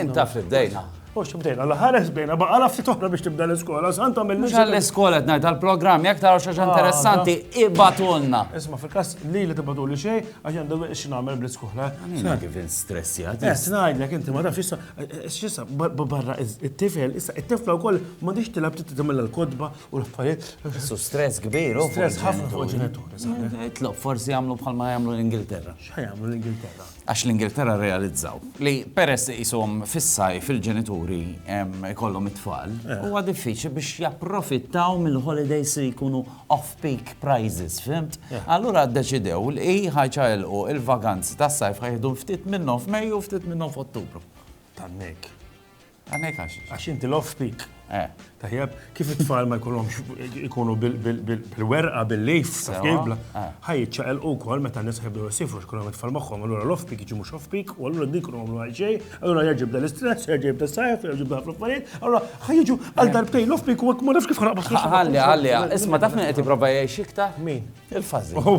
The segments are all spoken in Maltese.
Int taf li bdejna. Mux bdejna, l-ħares bdejna, baqa la ftit oħra biex tibda l-iskola, sant għamil Mux għall-iskola t ngħid għall-programm, jekk taraw xaġa ah, interessanti, ibatulna. Isma' fil-każ li li tibatu li xejn, għax għandu biex nagħmel bl skola Sa kif instressjat. Eh, ngħidlek inti ma tafx issa, eh, x'issa barra it-tifel, issa it-tifla wkoll ma tix tilab titgħamel l-kodba u l-affarijiet. Su stress kbir, u stress ħafna fuq ġenituri. Itlob forsi jagħmlu bħalma jagħmlu l-Ingilterra. X'ħajamlu l-Ingilterra? għax l-Ingilterra rrealizzaw li peress iqishom fis-sajf il-ġenituri jkollhom it-tfal, huwa diffiċli biex japprofittaw mill-holidays li jkunu off-peak prices, fhimt? Allura ddeċidew li ħa jċaqilqu l-vaganzi tas-sajf ħa jieħdu ftit minnhom f'Mejju u ftit minnhom f'Ottubru. Tannek. Għanek għax. Għax inti l-off speak. Eh. Tajjeb, kif it-tfal ma jkunhomx ikunu bil-werqa, bil-lejf, bil eh. ħaj ċaqel u kol meta nis ħibdu jisifru xkunhom it-tfal magħhom, allura l-off speak jiġi mhux off speak, u allura din kunu għamlu għalxej, allura jġib dan l-istress, jġib dan sajf, jġib dan l-affarijiet, allura ħaj jiġu għal darbtej l-off speak u għak ma nafx kif ħanaqbas. Għalli, għalli, isma taf minn qed jipprova jgħix iktar? Min? Il-fażi. Oh,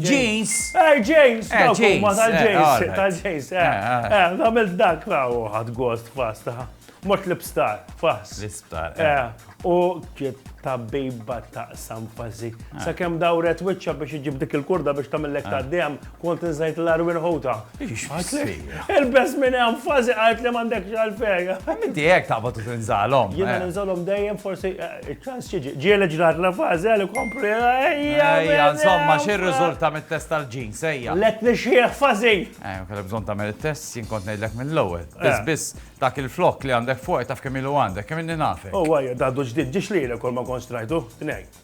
James. Eh, James, eh, James. Ma tal-James, eh, tal-James. Eh, eh, eh għamilt dak, u ħad ghost fast, mot l-ibstar, fast. L-ibstar. U kiet ta' bejba ta' sanfazi. Sa' kem dawret wicċa biex iġib dik il-kurda biex tamillek ta' dem Kont nżajt l-arwin ħuta. Il-best minn hemm fazi għajt li m'għandek xalfej. Minti hekk taqbad u tinżalhom. Jiena eh. ninżalhom dejjem forsi eh, iċ-ċans xiġi. Ġieli ġrat la fazi għal ikompli. Ejja, insomma, xi rriżulta mit-test tal-ġin, sejja. Let nixjieħ fazi. Eh, kellha bżonn tagħmel it-test jien kont ngħidlek mill-ewwel. Eh. Biss biss dak il-flok li għandek fuq taf kemm ilu għandek, kemm inni nafe. Oh, għajja, daddu ġdid ġiex li kol ma konstrajtu, tnejn.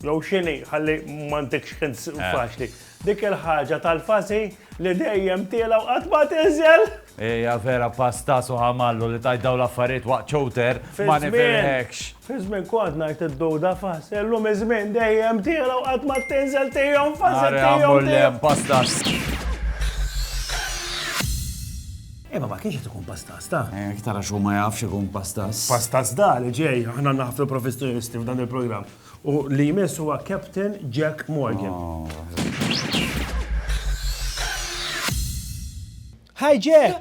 Jew x'inhi, ħalli m'għandekx ħin faċli. Dik il-ħaġa tal-fażi li dejjem tiela' u qatt ma tinżel! Hija vera pasta su ħamallu li tgħid dawn l-affarijiet waqt chowder, ma nifhimhekx. Fiż-żmien kont ngħid id-duda fażi, illum iż-żmien dejjem tiela' u qatt ma tinżel tihom fażi tihom. Ara ammur li hemm pasta. Imma ma kienx qed ikun pastas, ta? Iktar għax hu ma jafx ikun pastas. Pastas da li ġej, aħna naħflu professjonisti f'dan il-programm. U li jmiss huwa Captain Jack Morgan. Hi Jack!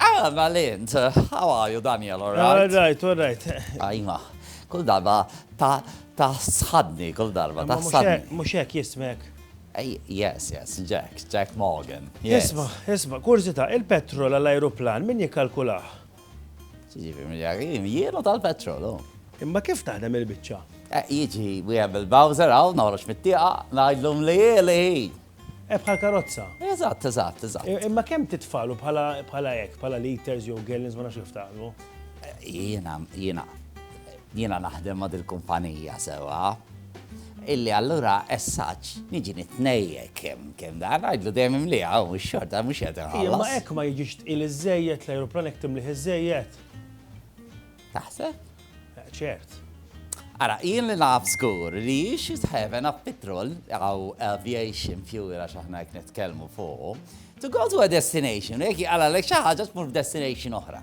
Ah, Valent, how are you, Daniel, all right? All right, all right. Ajma, kull darba ta' ta' sħadni, kull darba ta' sħadni. Muxek jismek. Yes, yes, Jack, Jack Morgan. Isma, isma, kurzita, il-petrol għall-aeroplan, min jikalkulah? Tiġi familjari, jienu tal-petrol, oh. Imma kif taħdem il-biċċa? Eh, jiġi wieħed bil-Bowser hawn noħroġ mit-tieqa ngħidlhom li li. Eh, bħal karozza. Eżatt, eżatt, eżatt. Eh, imma kemm titfalu bħala bħala hekk, bħala liters jew gallons ma nafx kif tagħmlu? Jiena, jiena Jiena naħdem ma' dil-kumpanija sewwa, illi allura esaġġ niġi nitnejjek kemm kemm dan, ngħidlu dejjem imlieha hu mhux xorta mhux qiegħed inħallas. Imma hekk ma jiġix tqil iżżejjed, l-ajruplan hekk timlih iżżejjed. Taħseb? Ċert. Ara, jien li naf żgur li you should have enough petrol aw aviation fuel għax aħna hekk nitkellmu fuqu, to go to a destination, jekk jqalalek xi ħaġa tmur f'destination oħra.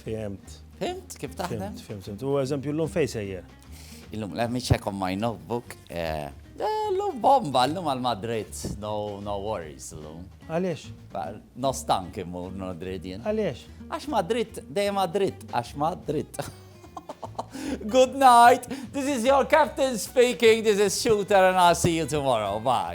Fimt. Fimt kif taħdem? Fimt, fimt. U eżempju l-lum fej sejjer? Il-lum, let me check on my notebook. Eh, L-lum bomba, l-lum għal-Madrid, no, no worries l-lum. Għalix? No stank imur, no dridin. Għalix? Għax Madrid, dej Madrid, għax Madrid. Good night, this is your captain speaking, this is Shooter and I'll see you tomorrow, bye.